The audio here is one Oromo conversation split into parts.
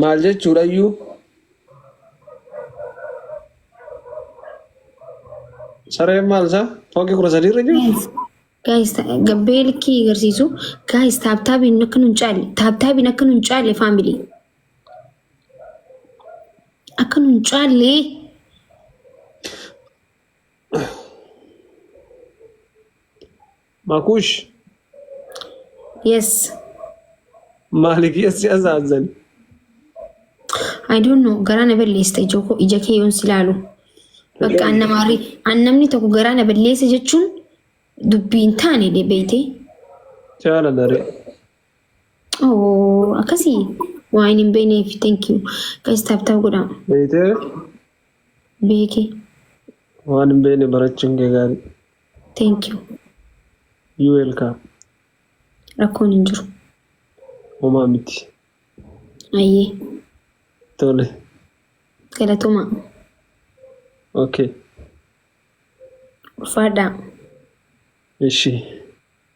Maal jechuudha iyyuu? Sareen maal isaa? Fooqii kudha sadii irra jirti? Guys, guys, ta- gabbee likkii agarsiisu. Guys, taaptaabiin akka nun caalle. Taaptaabiin akka nun caalle faamilii. Akka nun caalle. Makush Yes. maaliif yessi azaazan? I don't know. Garaa na balleessita ijoo koo ija kee yoon si laalu. Bakka an nama arri- an namni tokko garaa na balleessa jechuun dubbii hin taane de beeyte. Jaalala ree. Oh, akkasii waa hin beekneef thank you. Guys taap taap godhaa. Beeytee Beekee. waan hin beekne barachuun kee gaarii. Thank you. You welcome. Rakkoon hin jiru. Homaa miti. Ayyee. Tole. Galatomaa. Okay. Ulfaadhaa. Ishii.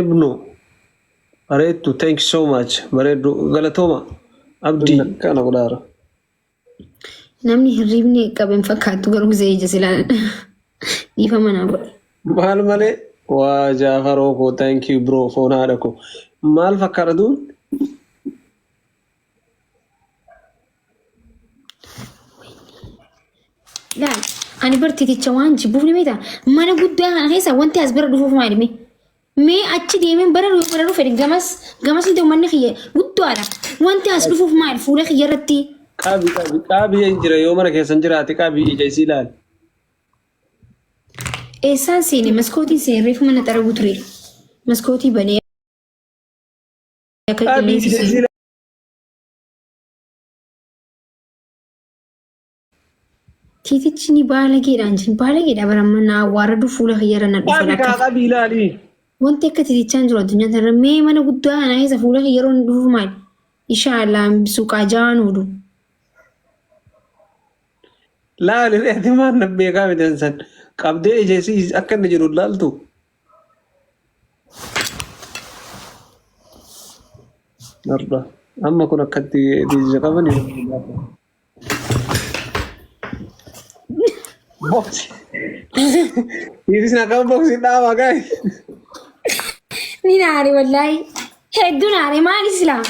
ibnu bareeddu thank you so much bareeddu galatooma abdii kana godhaara Namni hirriibni qabe hin fakkaatu garuu gisee ija silaa dhiifa manaa godhe. maal malee waa jaafaroo koo thank you bro foon haadha koo maal fakkaata duun Laal, ani bar titicha waan jibbuuf ni beektaa? Mana guddaa kana keessa wanti as bira dhufuuf maali mee? Mee achi deemeen bara yoo bara dhufe gamas gamas iddoo manni kiyya guddaadha. Wanti as dhufuuf maali fuula kiyya irratti? Qabi qabi qabi hin jira yoo mana keessan jiraate qabi ija isii laal. Eessaan seene maskootiin seene reefu mana xaraguu ture. Maskootii banee Akka Tiitichi ni baalageedha anjin baalageedha baramma na awwaaradu fuula kiyyarra na dhufa Qabi kaa lakka. qabi ilaali. Wanti akka tiitichaa hin jiru addunyaa kanarra mee mana guddaa kana keessa fuula kiyyarra hin dhufu maali? Ishaallah suuqaa jaan oolu. Laali reetii maal na beekaa midhaan san qabdee ija isii akka inni jiru laaltu. Arba. Amma kun akkatti diija qaban Boksi. Tiifis na qaban boksi dhaabaa gaa'e. Ni naare wallaahi. Hedduu naare maali silaa?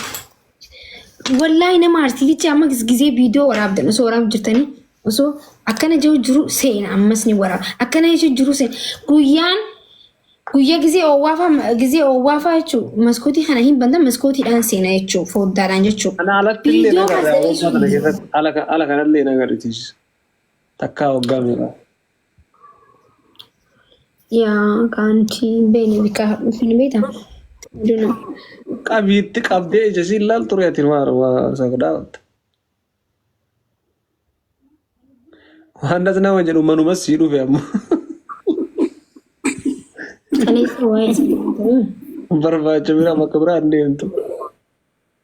Wallaahi nama aarsiitichi amma gisee viidiyoo waraabdan osoo waraabaa jirtanii osoo akkana jiru jiru seena ammas ni waraaba. Akkana jiru jiru seena guyyaan guyyaa gisee oowwaafaa gisee oowwaafaa jechuun maskootii kana hin bantan maskootiidhaan seena jechuun foddaadhaan jechuun. Ana alatti illee Viidiyoo nagarra waggaa kana masareessuun keessatti ala ala kanallee nagarritiis takkaa waggaa meeqa. Yaa kaantii beeni bikaa hadhuuf hin beetan. Duna. Qabiitti qabdee ija siin laal ture ati maal waa sagdaa watta. Waan as nama jedhu manumas sii dhufe amma. Kaleessa waa'ee isaa ture. Barbaacha biraa bakka biraa hin deemtu.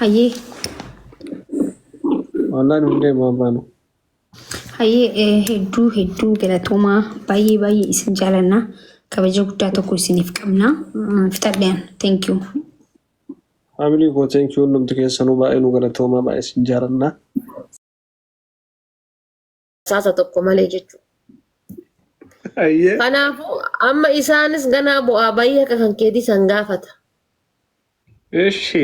Hayyee. Wallaan hundee baabaan. Hayyee eh, hedduu hedduu galatoomaa baay'ee baay'ee isin jaalannaa kabaja guddaa tokko isiniif qabnaa Mm, fixadheen thank you Faamilii koo teenkii hundumti keessanuu baay'ee nu galatoomaa baay'ee isin jaalannaa. basaasa tokko malee jechuudha. Ayyee. Kanaafuu amma isaanis ganaa bu'aa bayii akka kan keetii san gaafata. Eshi.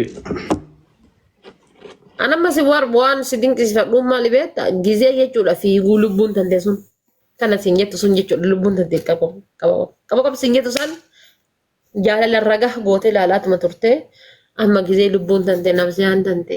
An amma si war waan si dinqisiifadhuun maali beekta gizee jechuudha fiiguu lubbuun tante sun kana siin jettu sun jechuudha lubbuun tante qaba qaba qaba qaba siin jettu san jaalala ragaa gootee ilaalaatuma turte amma gizee lubbuun tante nabsiyaan tante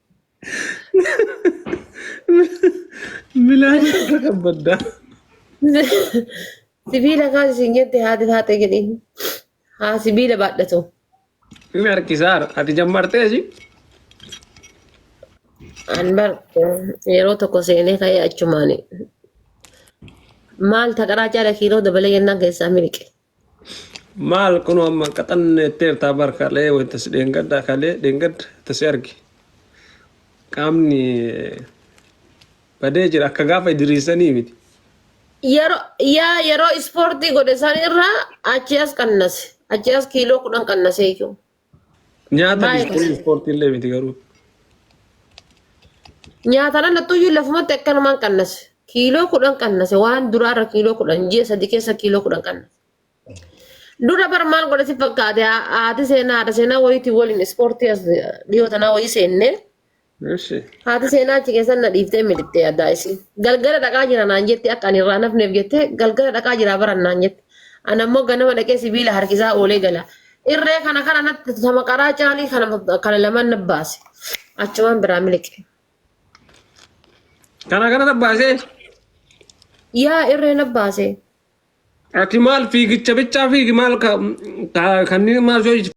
Milaan akka kabbaddaa. Sibiila kaas isin jette haati taate jedhee. Haa sibiila baadhatu. Inni harkisaara. Ati jammartee si. An bar yeroo tokko seenee ka'ee achumaan maal taqaraa caala kiiloo dabalee jennaan keessaa miliqe. Maal kunoo amma hin qaxanne jetteertaa bar kalee wanta si dheengadda kalee dheengadda wanta si arge qaamni badee jira akka gaafa idiriisanii miti. Yeroo yaa yeroo ispoortii godhe san irraa achi as qannase. Achi as kiiloo kudhan qannase iyyuu. Nyaata Maayika. biskuu ispoortii illee miti garuu. Nyaatana nattuyyuu lafumatti akkanumaan qannase. Kiiloo kudhan qannase waan duraarra kiiloo kudhan ji'a sadii keessa kiiloo kudhan qannase. Dura bar maal godhe si fakkaate haati seenaa haadha seenaa wayiitiin waliin ispoortii as dhiyoo tanaa wayii seennee Eshi. Haati seenaa achi keessan na dhiiftee miliqxee addaa ishii. Galgala dhaqaa jira naan jetti akka ani irraa nafneef jettee galgala dhaqaa jira baran naan jetti. Ana immoo ganama dhaqee sibiila harkisaa oolee gala. Irree kana kana natti sama qaraa caalii kana kana lamaan na baase. Achumaan biraa miliqe. Kana kana tabbaasee Yaa irree na baase. ati maal fiigicha bichaa fiigi maal ka- ka- kanneen maal soo